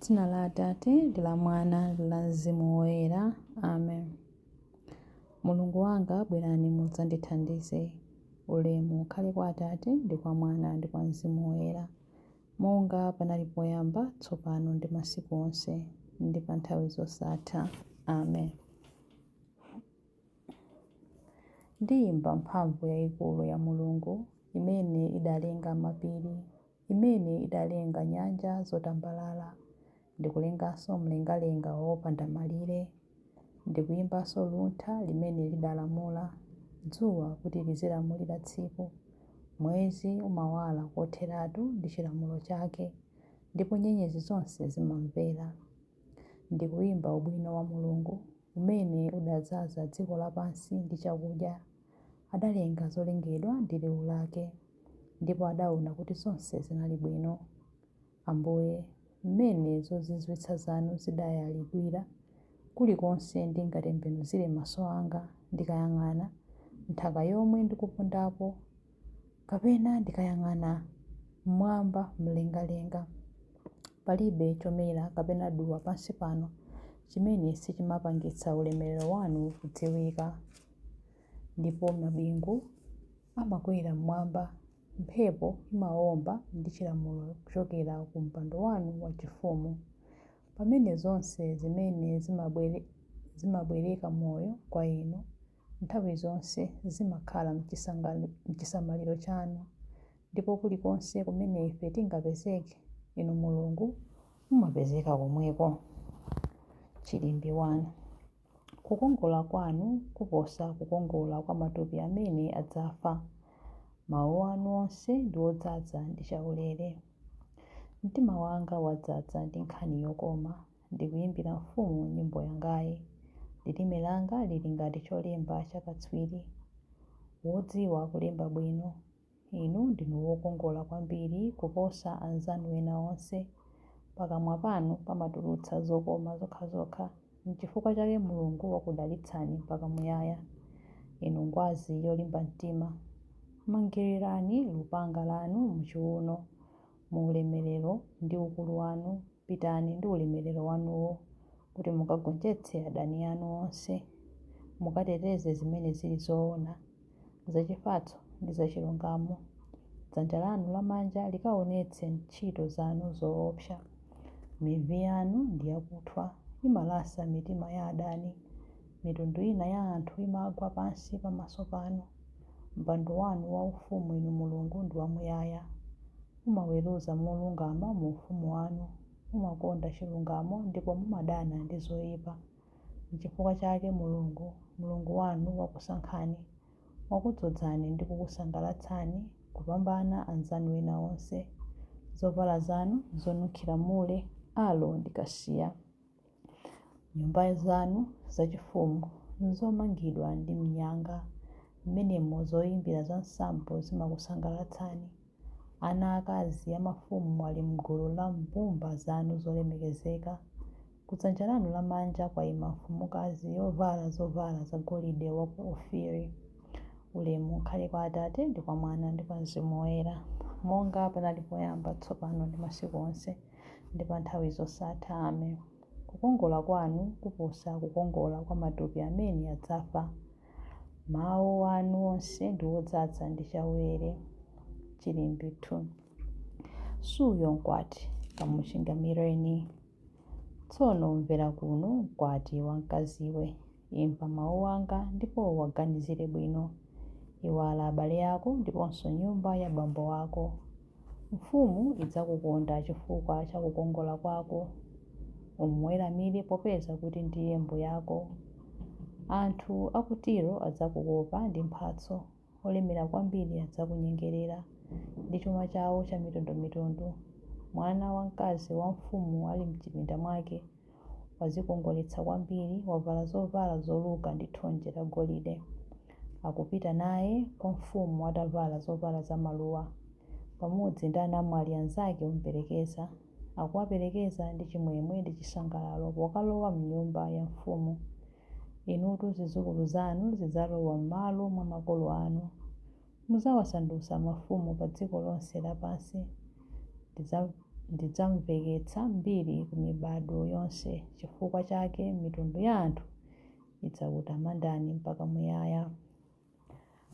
Dzina la Atate, ndi la Mwana, ndi la Mzimu Woyera. Amen. Mulungu wanga, bwerani mudzandithandize. Ulemu ukhale kwa Atate, ndi kwa Mwana, ndi kwa Mzimu Woyera. Monga panali poyamba, tsopano, ndi masiku onse, ndi pa nthawi zosatha. Amen. Ndiyimba mphamvu yayikulu ya Mulungu, imene idalenga mapiri. imene idalenga nyanja zotambalala, ndi kulenganso mlengalenga wopanda malire, ndi kuimbanso luntha limene lidalamula dzuwa kuti lizilamulira tsiku, mwezi umawala kotheratu ndi chilamulo chake, ndipo nyenyezi zonse zimamvera, ndi kuimba ubwino wa Mulungu, umene udadzaza dziko lapansi ndi chakudya. adalenga zolengedwa ndi liwu lake, ndipo adaona kuti zonse zinali bwino. Ambuye, mmene zozizwitsa zanu zidayalidwira, kulikonse ndingatembenuzire maso anga, ndikayang'ana nthaka yomwe ndikupondapo, kapena ndikayang'ana m'mwamba mlengalenga, palibe chomera kapena duwa pansi pano chimene sichimapangitsa ulemelero wanu kudziwika. Ndipo mabingu amakwera mmwamba, mphepo imawomba ndi chilamulo kuchokera ku mpando wanu wachifumu. Pamene zonse zimene zimabwereka moyo kwa inu nthawi zonse zimakhala mchisamaliro chanu, ndipo kulikonse kumene ife tingapezeke, Inu Mulungu mumapezeka komweko. Chilimbi 1. Kukongola kwanu kuposa kukongola kwa matupi amene adzafa. Mawu anu onse ndi odzaza ndi chaulere. Mtima wanga wadzaza ndi nkhani yokoma, ndikuyimbira mfumu nyimbo yangayi. Lilime langa lili ngati cholemba cha katswiri wodziwa kulemba bwino. Inu ndinu wokongola kwambiri kuposa anzanu ena onse. Pakamwa panu pamatulutsa zokoma zokhazokha. N'chifukwa chake Mulungu wakudalitsani mpaka muyaya. Inu ngwazi yolimba mtima. Mangirirani lupanga lanu m'chiuno. mu ulemerero ndi ukulu wanu, pitani ndi ulemerero wanuwo kuti mukagonjetse adani anu onse, mukateteze zimene zili zoona, zachifatso ndi zachilungamo. Dzanja lanu lamanja likaonetse ntchito zanu zoopsa. Mivi yanu ndi yakuthwa, imalasa mitima ya adani. Mitundu ina ya anthu imagwa pansi pamaso panu. Mpando wanu waufumu, inu Mulungu, ndi wamuyaya. Mumaweruza molungama mu ufumu wanu. Mumakonda chilungamo ndipo mumadana ndi zoipa. N'chifukwa chake Mulungu, Mulungu wanu, wakusankhani, wakudzozani ndi kukusangalatsani kupambana anzanu ena onse. Zovala zanu n'zonunkhira mure, aloe ndi kasiya. Nyumba zanu zachifumu n'zomangidwa ndi mnyanga, mmenemo zoimbira za nsambo zimakusangalatsani. Ana aakazi a mafumu ali m'gulu la mbumba zanu zolemekezeka. Kudzanja lanu lamanja kwaima mfumukazi yovala zovala zagolide wa ku Ofiri. Ulemu ukhale kwa Atate ndi kwa Mwana ndi kwa mzimu woyera, monga panali poyamba, tsopano ndi masiku onse. ndi pa nthawi zosatha. Amen. Kukongola kwanu kuposa kukongola kwa matupi amene adzafa. Mawu anu onse ndi odzadza ndi chaulere. Chilimbi 2. Suuyo mkwati, kamuchingamireni. Tsono mvera kuno, mkwati wamkaziwe. Imva mawu anga ndipo uwaganizire bwino. Iwala abale ako ndiponso nyumba ya bambo wako. Mfumu idzakukonda chifukwa cha kukongola kwako. Umuweramire popeza kuti ndiye mbuyako. Anthu a ku Tiro adzakukopa ndi mphatso. olemera kwambiri adzakunyengerera ndi chuma chawo chamitundumitundu. Mwana wamkazi wa mfumu ali m'chipinda mwake, wadzikongoletsa kwambiri, wavala zovala zoluka ndi thonje lagolide. Akupita naye kwa mfumu atavala zovala zamaluwa, pamodzi ndi anamwali anzake omuperekeza. akuwaperekeza ndi chimwemwe ndi chisangalalo pokalowa m'nyumba ya mfumu. Inutu zidzukulu zanu zidzalowa m'malo mwa makolo anu. Mudzawasandutsa mafumu pa dziko lonse lapansi. Ndidzamveketsa mbiri ku mibado yonse, chifukwa chake mitundu ya anthu idzakutamandani mpaka muyaya.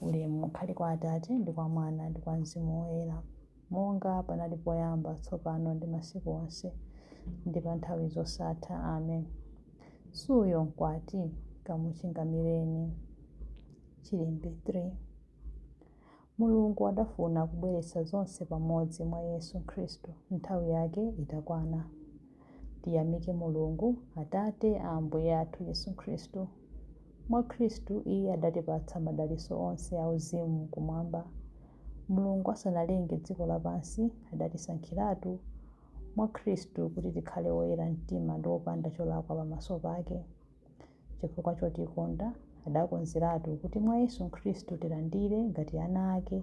Ulemu ukhale kwa Atate, ndi kwa Mwana, ndi kwa Mzimu Woyera. Monga panali poyamba, tsopano, ndi masiku onse, ndi pa nthawi zosatha. Amen. Suuyo Mkwati? Kamuchingamireni. Chilimbi 3. Mulungu adafuna kubweretsa zonse pamodzi mwa Yesu Khristu nthawi yake itakwana. Tiyamike Mulungu, Atate a Ambuye athu Yesu Khristu. Mwa Khristu Iye adatipatsa madalitso onse auzimu Kumwamba. Mulungu asanalenge dziko lapansi, adatisankhiratu mwa Khristu kuti tikhale oyera mtima ndi opanda cholakwa pamaso pake. Chifukwa chotikonda, adakonzeratu kuti mwa Yesu Khristu tilandire, ngati ana ake,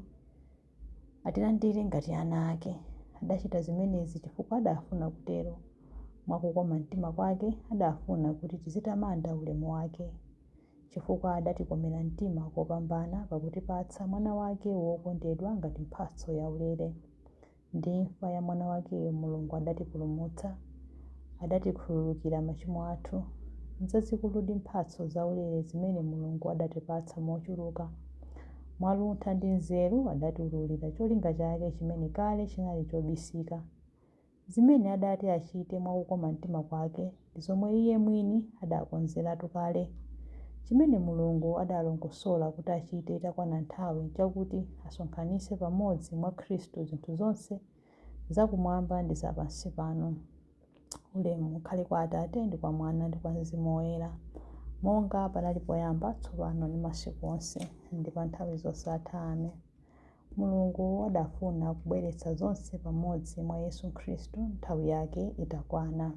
Atilandire ngati ana ake. Adachita zimenezi chifukwa adafuna kutero. Mwa kukoma mtima kwake, adafuna kuti tizitamanda ulemu wake. Chifukwa adatikomera mtima kopambana pakutipatsa Mwana wake wokondedwa ngati mphatso yaulere. Ndi imfa ya Mwana wakeyo Mulungu adatipulumutsa. Adatikhululukira machimo athu. Nzazikuludi mphatso zaulere zimene Mulungu adatipatsa mochuluka. Mwaluntha ndi nzeru adatiululira cholinga chake chimene kale chinali chobisika. Zimene adati achite mwa kukoma mtima kwake ndi zomwe Iye mwini adakonzeratu kale. Chimene Mulungu adalongosola kuti achite itakwana nthawi chakuti asonkhanitse pamodzi mwa Khristu zinthu zonse za kumwamba ndi za pansi pano. Ulemu ukhale kwa Atate, ndi kwa Mwana, ndi kwa Mzimu Woyera, monga panali poyamba, tsopano, ndi masiku onse, ndi pa nthawi zosatha. Amen. Mulungu adafuna kubweretsa zonse pamodzi mwa Yesu Khristu nthawi yake itakwana.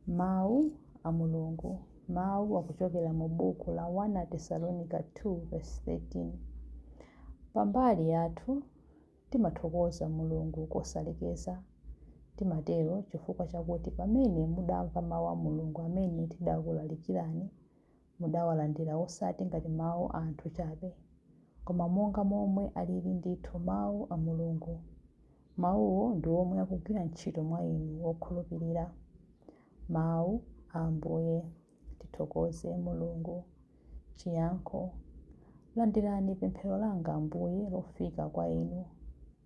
Mawu a Mulungu Mawu akuchokera mu buku la 1 Tesalonika 2 vesi 13. Pambali yathu, Timathokoza Mulungu kosalekeza. Timatero chifukwa chakuti pamene mudamva mau a Mulungu amene tidakulalikirani, mudawalandira osati ngati mau a anthu chabe, koma monga momwe aliri ndithu mau a Mulungu. Mauwo ndi omwe akugwira ntchito mwa inu okhulupirira. Mau a Ambuye. Tithokoze Mulungu. Chiyankho Landirani pemphero langa, Ambuye, lofika kwa Inu.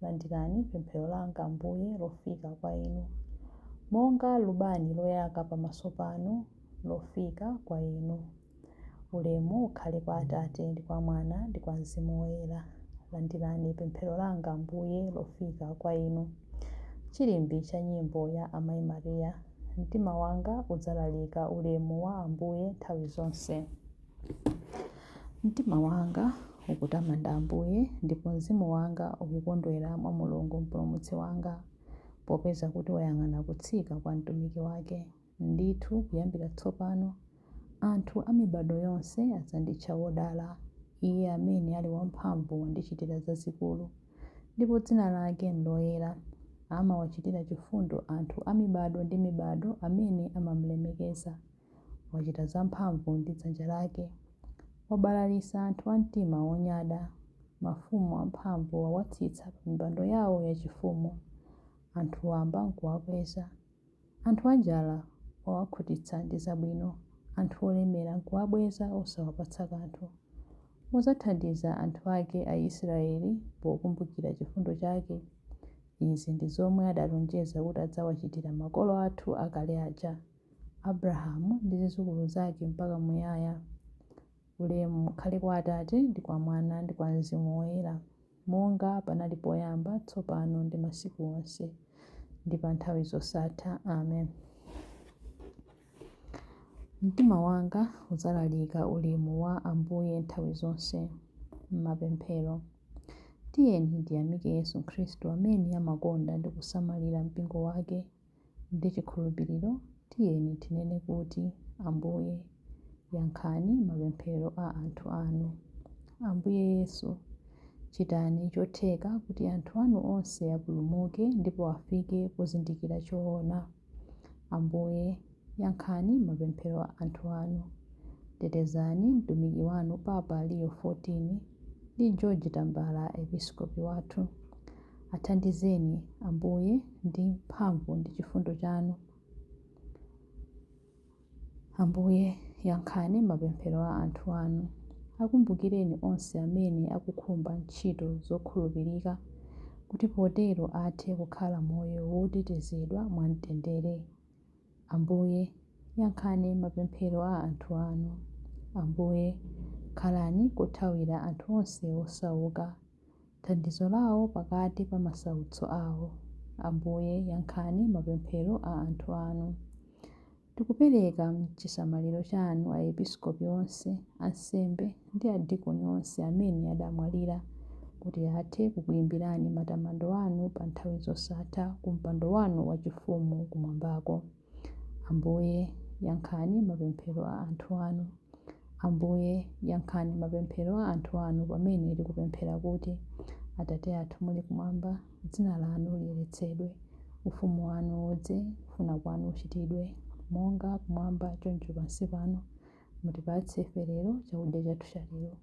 Landirani pemphero langa, Ambuye, lofika kwa Inu. Monga lubani loyaka pamaso panu, lofika kwa Inu. Ulemu ukhale kwa Atate, ndi kwa Mwana, ndi kwa Mzimu Woyera. Landirani pemphero langa, Ambuye, lofika kwa Inu. Chilimbi cha nyimbo ya Amai Maria. Mtima wanga udzalalika ulemu wa Ambuye nthawi zonse. Mtima wanga ukutamanda Ambuye, ndipo mzimu wanga ukukondwera mwa Mulungu Mpulumutsi wanga, popeza kuti wayang'ana kutsika kwa mtumiki wake. Ndithu, kuyambira tsopano Anthu a mibado yonse adzanditcha wodala, Iye amene ali wamphamvu wandichitira zazikulu, ndipo dzina lake n'loyera. Amawachitira chifundo anthu a mibado ndi mibado amene amam'lemekeza. Wachita zamphamvu ndi dzanja lake. Wabalalitsa anthu a mtima wonyada. Mafumu amphamvu wawatsitsa pamipando yawo yachifumu. Anthu wamba n'kuwakweza. Anthu anjala wawakhutitsa ndi zabwino, anthu olemera n'kuwabweza osawapatsa kanthu. Wadzathandiza anthu ake Aisiraeli pokumbukira chifundo chake. Izi ndi zomwe adalonjeza kuti adzawachitira makolo athu akale aja, Abrahamu ndi zidzukulu zake mpaka muyaya. Ulemu ukhale kwa Atate ndi kwa Mwana ndi kwa mzimu woyera. monga panali poyamba, tsopano ndi masiku onse, ndi pa nthawi zosatha. Amen. Mtima wanga udzalalika ulemu wa Ambuye nthawi zonse. Mapemphero, tiyeni tiyamike Yesu Khristu amene amakonda ndi kusamalira mpingo wake. Ndi chikhulupiriro tiyeni tinene kuti, Ambuye, yankhani mapemphero a anthu anu. Ambuye Yesu, chitani chotheka kuti anthu anu onse apulumuke ndipo afike pozindikira choona. Ambuye, Yankhani mapemphero a anthu anu. Tetezani mtumiki wanu Papa Leo 14 ndi George Tambala Episkopi wathu. Athandizeni, Ambuye, ndi mphamvu ndi chifundo chanu. Ambuye, yankhani mapemphero a anthu anu. Akumbukireni onse amene akukhumba ntchito zokhulupirika, kuti potero athe kukhala moyo wotetezedwa mwamtendere. Ambuye, yankhani mapemphero a anthu anu. Ambuye, khalani kothawira anthu onse osauka, thandizo lawo pakati pa masautso awo. Ambuye, yankhani mapemphero a anthu anu. Tikupereka m'chisamaliro chanu Aepiskopi onse, ansembe, ndi adikoni onse amene adamwalira, kuti athe kukuimbirani matamando anu pa nthawi zosatha ku mpando wanu wachifumu kumwambako. Ambuye, yankhani mapemphero a anthu anu. Ambuye, yankhani mapemphero a anthu anu pamene tikupemphera kuti, Atate athu muli kumwamba, dzina lanu liyeretsedwe. Ufumu wanu udze. Kufuna kwanu kuchitidwe, monga kumwamba choncho pansi pano. Mutipatse ife lero chakudya chathu cha lero.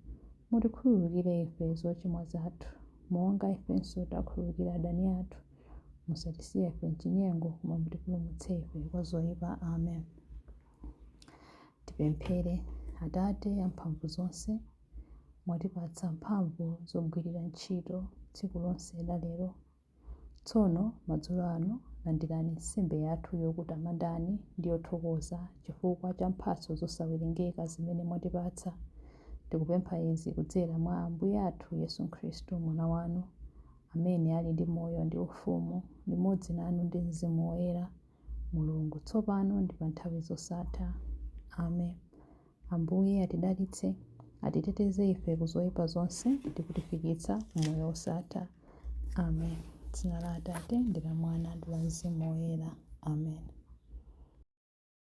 Mutikhululukire ife zochimwa zathu, monga ifenso takhululukira adani athu. Musatisiye ife m'chinyengo, koma mutipulumutse ife kwa zoipa. Amen. Tipemphere. Atate amphamvu zonse, mwatipatsa mphamvu zogwirira ntchito tsiku lonse la lero Tsono madzulo ano, landirani nsembe yathu yokutamandani ndi yothokoza chifukwa cha mphatso zosawerengeka zimene mwatipatsa. Tikupempha izi kudzera mwa Ambuye athu Yesu Khristu, Mwana wanu, amene ali ndi moyo ndi ufumu limodzi nanu ndi Mzimu Woyera, Mulungu, tsopano ndi pa nthawi zosatha. Amen. Ambuye atidalitse, atiteteze ife ku zoyipa zonse ndi kutifikitsa ku moyo wosatha. Amen. Dzina la Atate ndi la Mwana ndi la Mzimu Woyera. Amen.